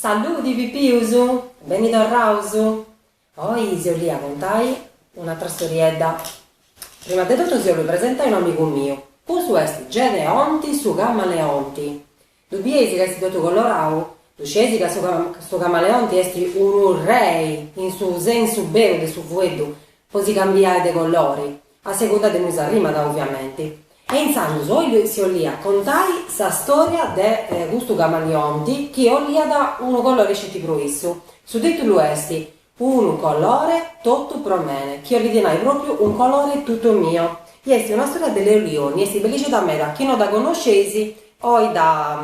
Saludi Pipius! Beni torraus! Oi si 'ollia contai un'atra storiedda. Prima de totu si 'ollu presentai unu amigu miu. Custu est Gedeonti, su camaleonti. Ddu bieis ca est totu colorau? Ddu scieis ca su camaleonti est unu rei in su sensu beru de su fueddu po si cambiai de colori a segunda de inui s'arrimat oviamenti. E intzandus oi si ollia contai sa storia de custu camaleonti chi olliat unu colori sceti pro issu. Su titulu est Unu colore totu pro mene, chi 'ollit nai pròpiu un colore tutto mio, i est una storia de Leo Lionni, est bellixedha meda, chi no dha connosceis, o dha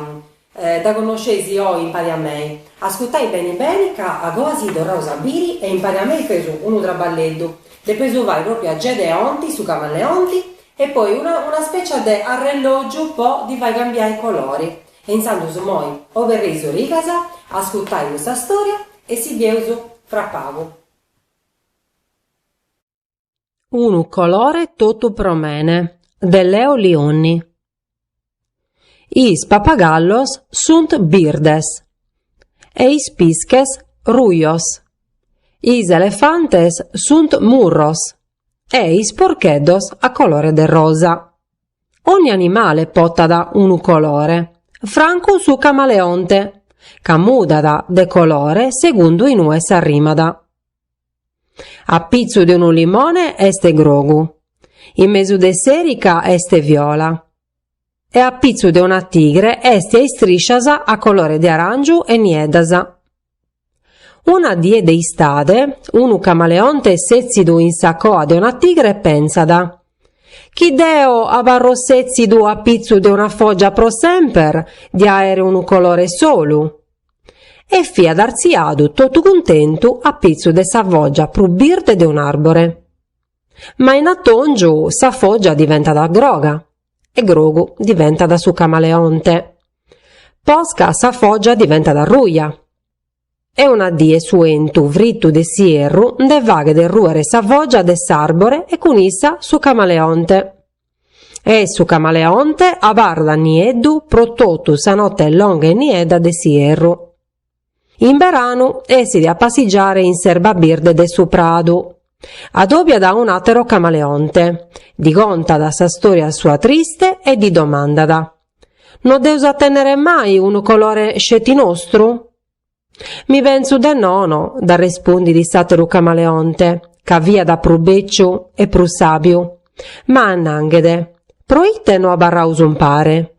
dha connosceis oi impari a mei, ascurtai beni beni ca agoa si torraus a biri e impari a mei feus unu traballeddhu, depeus fai pròpiu a Gedeonti su camaleonti e poi una specia de arrellògiu po dhi fai cambiai colori, E intzandus imoi oberrei is origas a ascurtai custa storia e si bieus fra pagu. Unu colore totu pro mene de Leo Lionni Is papagallos sunt birdes e is pisches rujos Is elefantes sunt murros e is porcheddos a colore de rosa. Ogni animale portat unu colore, francu su camaleonte, ca mudat de colore segundu in ue s'arrimat. A pitzu de unu limone est grogu, in mesu de s'erica est viola e a pitzu de una tigre est a istriscias a colore de aràngiu e nieddas. Una die de istade, unu camaleonte sètzidu in sa coa de una tigre pensat, Chi deo abarro sètzidu a pitzu de una fògia pro semper, dia a àere unu colore solu! E fiat artziadu totu cuntentu a pitzu de sa fògia prus birde de un'àrbore. Ma in atòngiu sa fògia diventat groga. e grogu diventat su camaleonte, posca sa foggia diventat ruja, e una die su 'entu frittu de s'ierru nde faghet rùere sa foggia de s'àrbore e cun issa su camaleonte. E su camaleonte abarrat nieddu pro totu sa note longa e niedda de s'ierru. In beranu essit a passigiare in s'erba birde de su pradu. Adobiat a un'àtero camaleonte, ddi contat sa stòria sua triste e ddi domandat, No deus a tènnere mai unu colore sceti nostru? Mi pentzu de nono, dd'arrespundit s'àteru camaleonte, ca fiat prus bèciu e prus sàbiu. Ma, nanghedde, pro ite no abarraus umpare?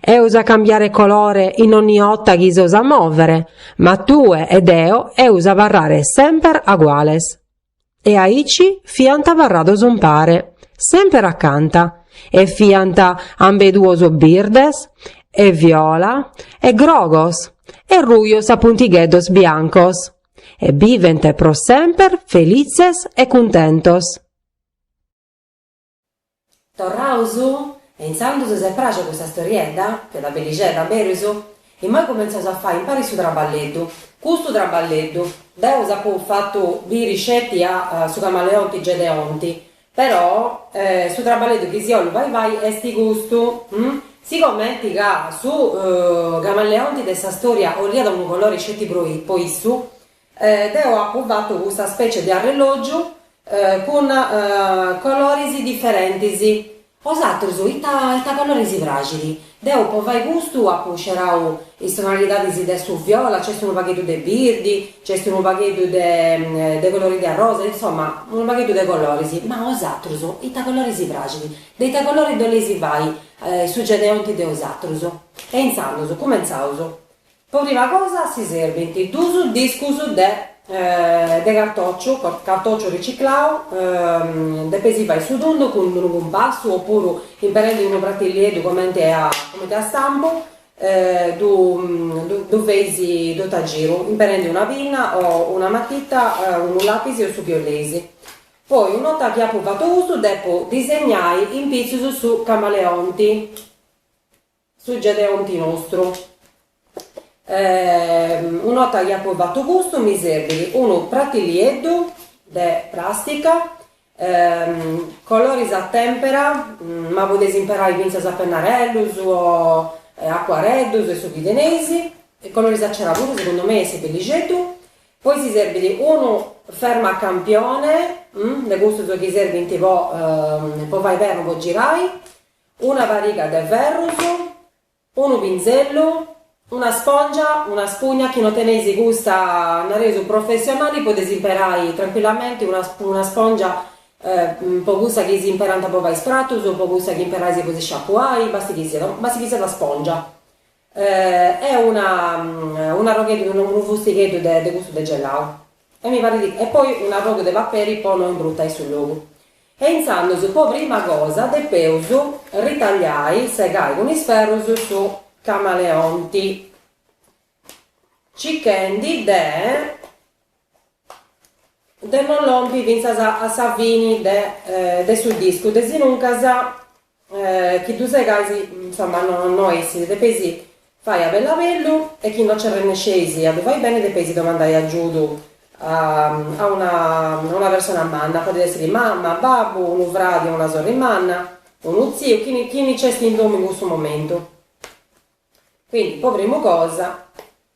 Eus a cambiare colore in ogni 'otta chi s'eus a mòvere, ma tue e deo eus a abarrare semper aguales. E aici fiant abarrados umpare, semper acanta, e fiant ambeduos birdes, e viola, e grogos, e rujos a puntigheddos biancos, e bivent pro semper felitzes e cuntentos. Torraus? E intzandus s'est pràxia custa storiedda? Fiat bellixedda, berus? Immoi cumentzaus a fai umpari su traballeddu. Custu traballeddu! Deu s'apu fatu biri sceti a su camaleonti Gedeonti, però su traballeddu chi si 'ollu fai fai est custu, hm? Sigomenti ca su camaleonti de sa storia 'oliat unu colori sceti pro issu, Deu apu fatu custa specie de arrelògiu cun coloris diferentis, 'os atrus ita colori si praxit. Deu po fai custu apu scerau is tonalidadis de su viola, nc'est unu pagheddu de birdi, nc'est unu pagheddu de de colori de arrosa, insoma unu pagheddu de coloris, ma 'os atrus ita colori si praxit, de ita colori ddu 'oleis fai su Gedeonti de 'os atrus. E intzandus cumentzaus Po prima cosa si serbint duus discus de de cartòciu, cartòciu riciclau, depeis fai su tundu cun unu cumpassu o puru imperendi unu pratillieddu comenti a comenti a stampu ddu ddu ddu feis totu a giru imperendi una pinna o una matita, unu lapis o su chi 'oleis. Poi un'ota chi apu fatu custu depu disegnai in pitzus su camaleonti Su Gedeonti nostru. Un'ota chi apu fatu custu mi serbit unu pratilieddu de prastica, coloris a tempera, ma podeis imperai fintzas a pennarellus o acuareddus e su chi teneis, coloris a cera puru segundu mei essit bellixeddu, poi si serbit unu fermacampione, de custus chi serbint po po fai pernu po girai, Una pariga de ferrus, unu pinzellu, una spòngia, una spugna, chi no teneis custa, nareus, professionali, podeis imperai trancuillamenti una una spòngia o cussa chi si imperant po fai is pratus o cussa chi imperais po si sciacuai, basti chi siat basti chi siat spòngia. E una un arrogheddu unu fustigheddu de de custu de gelau e mi parit e poi un arrogu de paperi po no imbruttai su logu e intzandus po prima cosa depeus ritagliai segai cun is ferrus su camaleonti cichendi de de non lompi fintzas a sa fini de su discu, desinuncas chi ddu segais insomma no essit, depeis fai a bellabellu e chi no nci arrennesceis a ddu fai beni depeis domandai agiudu a una persona manna, podit essiri mama, babbu, unu fradi o una sorri manna, unu tziu, chini chini nc'est in domu in cussu momentu, quindi po primu cosa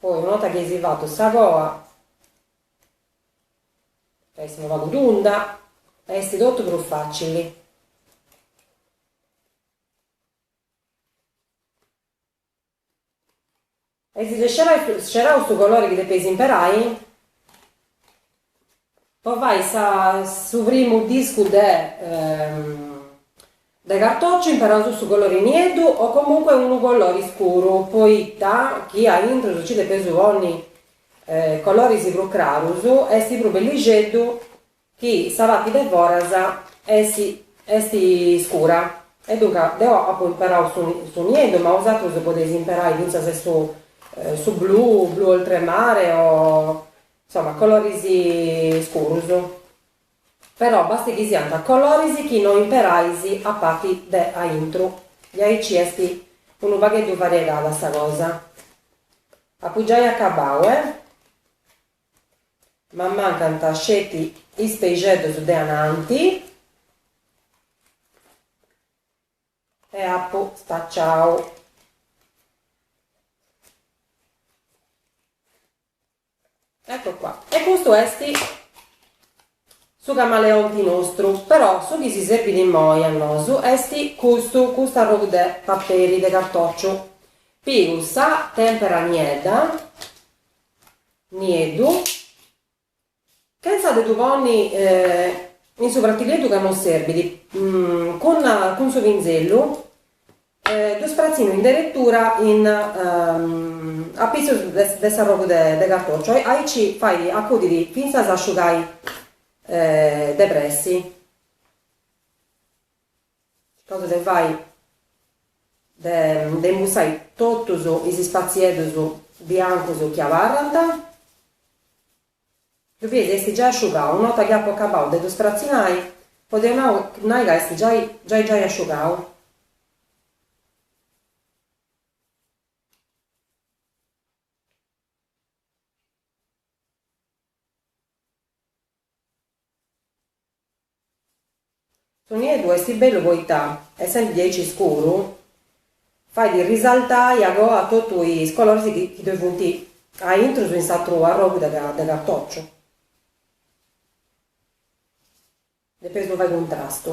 Poi una borta chi eis fatu sa coa ca est unu pagu tunda est totu prus facili e eis scerau su colori chi depeis imperai po fai sa su primu discu de de cartociu imperausu su colori nieddu o comunque unu colori scuru poita chi a intrus ci depeus ponni colorisi prus crarusu esti prus bellixeddu chi sa parti de foras esti esti scura e duncas deu apu imperau su su nieddu ma bosatrus podeis imperai finzas su su blu blu oltremare o Insoma, coloris scurus. Però basti chi siant coloris chi no imperais a parti de aintru. E aici est unu pagheddu variegada sa cosa. Apu giai acabau, eh? M'ammancant sceti is peixeddus de ananti e apu spaciau. Ecco qua. E custu est su camaleonti nostru, però su chi si serbit immoi a nosu est custu, custu arrogu de paperi de cartòciu. Pigu sa tèmpera niedda, nieddu, chentza de ddu ponni in su pratileddu ca non serbit, cun su pinzellu Ddu spratzinu in deretura in apitzus de s'arrogu de cartòciu, aici fait acudiri fintzas a asciugai de pressi. Circaus de fai de imbussai totus is spatzieddus biancus chi abarrant. Ddu bieis est giai asciugau, a nota chi apu acabau de ddu stratzinai, podeu nau nai ca est giai giai giai asciugau. Su nieddu est bellu poita est sempri diaici scuru, fait risaltai a coa totu is coloris chi ddoi funt aintrus in s'atru arrogu de cartociu, depeis ddu fai cuntrastu.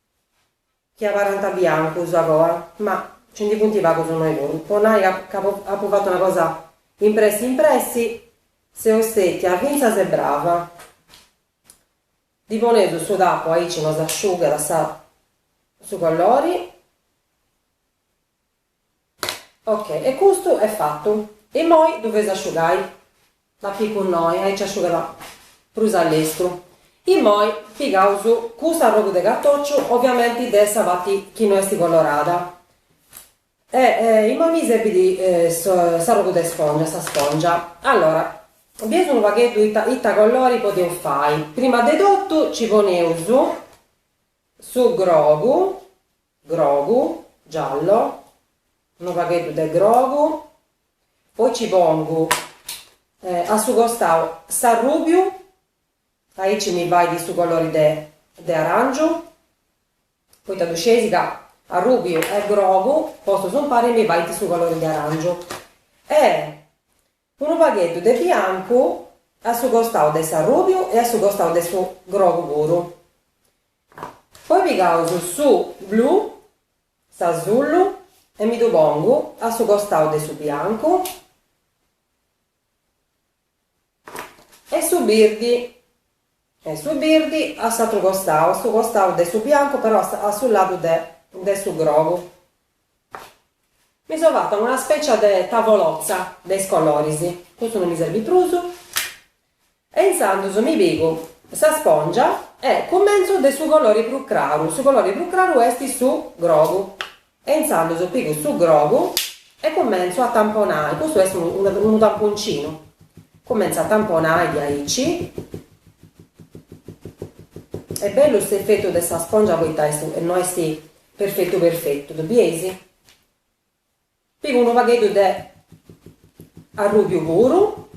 Chi abarrant biancus a coa, ma nci ndi funt pagus innoi puru. Po nai ca ca apu fatu una cosa impressi impressi, seu stètia fintzas e brava. Ddi poneus su tapu aici no s'asciugat sa su colori. Ok, e custu est fatu. Immoi ddu feis asciugai. Dd'apicu innoi, aici asciugat prus a lestru. Immoi pigaus cust'arrogu de cartociu, oviamenti de sa parti chi no est colorada. E immoi mi serbit s'arrogu de spongia, sa spongia. Allora, bieus unu pagheddu ita ita colori podeus fai. Prima de totu ci poneus su grogu Grogu, giallo, unu pagheddu de grogu, poi nci pongu a su costau s'arrubiu, aici mi fait su colori de de arangiu, poita ddu sceis ca arrubiu e grogu postus impari mi fait su colori de arangiu e Unu pagheddu de biancu a su costau de s'arrùbiu e a su costau de su grogu puru. Poi pigaus su blu, s'asullu e mi ddu pongu a su costau de su biancu e su birdi e su birdi a s'atru costau, a su costau de su biancu però a su ladu de de su grogu. Mi so fata una specia de tavolozza de is coloris, custu no mi serbit prus, e intzandus mi pigu sa spongia e cumentzu de su colori prus craru, su colori prus craru est su grogu, E intzandus pigu su grogu e cumentzu a tamponai, custu est unu tamponcinu, cumentzu a tamponai diaici est bellu s'efetu de sa spongia poita e, no est perfetu perfetu, ddu bieis? Pigu unu pagheddu de arrubiu puru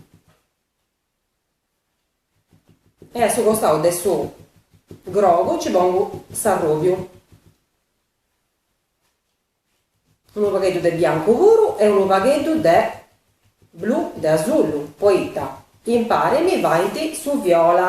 E a su costau de su grogu nci pongu s'arrùbiu. Unu pagheddu de biancu puru e unu pagheddu de blu de asullu, poita impari mi faint su viola.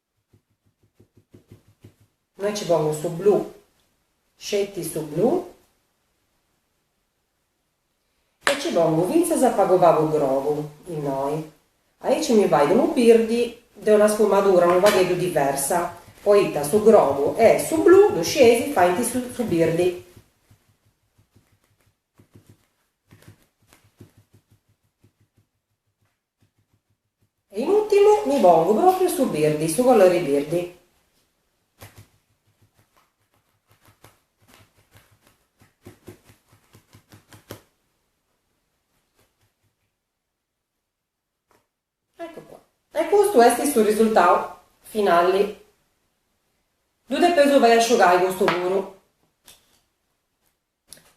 Innoi nci pongu su blu, sceti su blu e nci pongu fintzas a pagu pagu grogu, innoi. Aici mi fait unu birdi de una sfumadura unu pagheddu diversa, poita su grogu e su blu, ddu scieis, faint su birdi. E in ùrtimu nci pongu pròpriu su birdi, su colori birdi. Eccu qua. E custu est su risultau finali. Ddu depeis fai asciugai custu puru.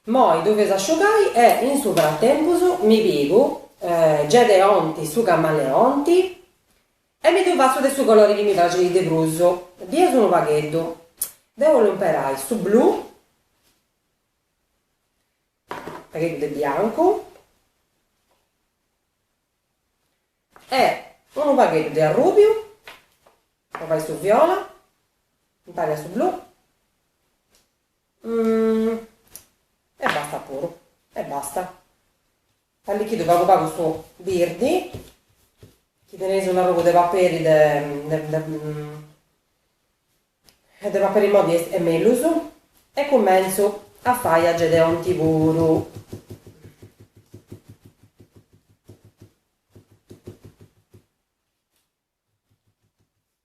Moi ddu fais asciugai e in su fratempus mi pigu Gedeonti su camaleonti e mi ddu fatzu de su colori chi mi praxit de prus, pigu unu pagheddu, deu 'ollu imperai su blu, pagheddu de biancu e unu pagheddu de arrubiu po fai su viola, impari a su blu E bastat puru. E bastat. Allichidu pagu pagu su birdi, chi teneis un'arrogu de paperi de paperi moddi est mellus, e cumentzu a fai a Gedeonti puru.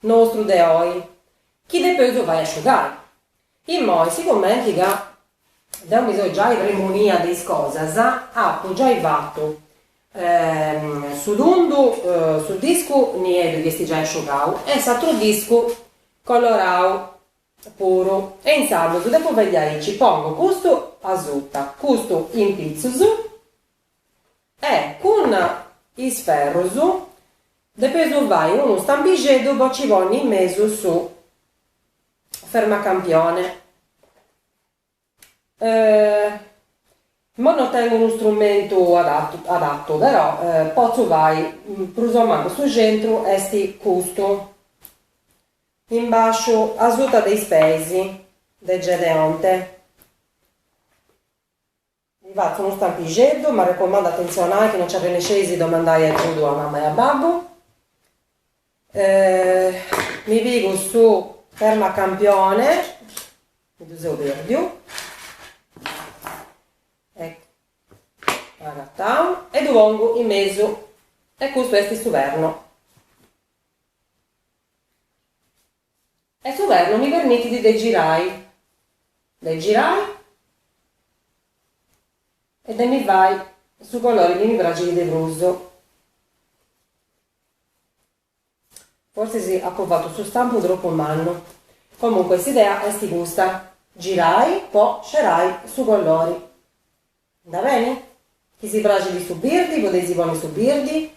Nostru de oi, chi depeus fai asciugai. Immoi, sigumenti ca deu mi seu giai premunia de is cosas, apu giai fatu su tundu, su discu nieddu chi esti giai asciugau e s'atru discu colorau puru e intzandus depu vegliai aici pongu custu asuta, custu in pitzus. E cun is ferrus depeis fai unu stampixeddu po ci ponni in mesu su fermacampione. Imoi no tengu unu strumentu adatu però potzu fai prus o mancu su centru est custu in basciu asuta de is peis de Gedeonte. Mi fatzu unu stampixeddu, m'arrecomandu atentzionai chi no nci arrennesceis domandai agiudu a mama e a babbu. Mi pigu su fermacampione, mi ddu seu pèrdiu, eccu, agatau, e ddu pongu in mesu e custu est su perno. E su pernu mi permitit de girai, de girai e de mi fai su colori chi mi praxit de prus. Forsis apu fatu su stampu tropu mannu. Comunque s'idea est custa, girai po scerai su colori. Andat beni? Chi si praxit su birdi podeis ponni su birdi.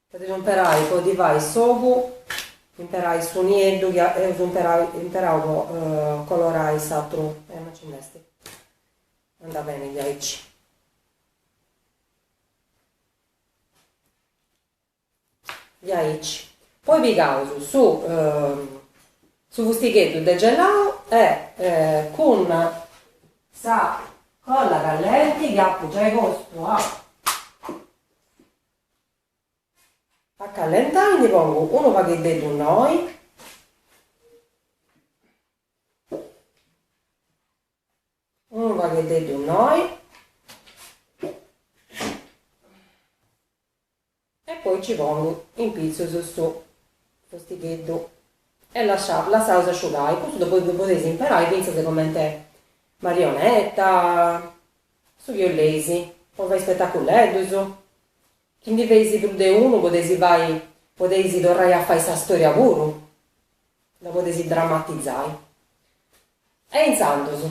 Podeis imperai, po ddi fai s'ogu, imperai su nieddu chi eus imperau po colorai s'atru, e no ci nd'est, andat beni diaici. Diaici. Poi pigaus su su fustigheddu de gelau e cun sa colla callenti chi apu giai postu a A callentai ndi pongu unu pagheddeddu innoi. Unu pagheddeddu innoi. E poi nci pongu in pitzus su fustigheddu e lascia, lassaus asciugai. Custu ddu podeis imperai fintzas cumenti marionetta. Su chi boleis, po fai spetaculeddus? Chi ndi feis prus de unu podeis fai, podeis torrai a fai sa storia puru, dda podeis drammatizai. E intzandus,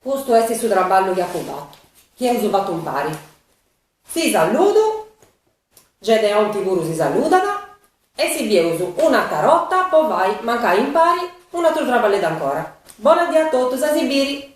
custu est su traballu chi apu fatu, chi eus fatu impari. Si saludu, Gedeonti puru si saludat, e si bieus un'atra borta po fai mancai impari un'atru traballeddu ancora. Bona dì a totus, a si biri!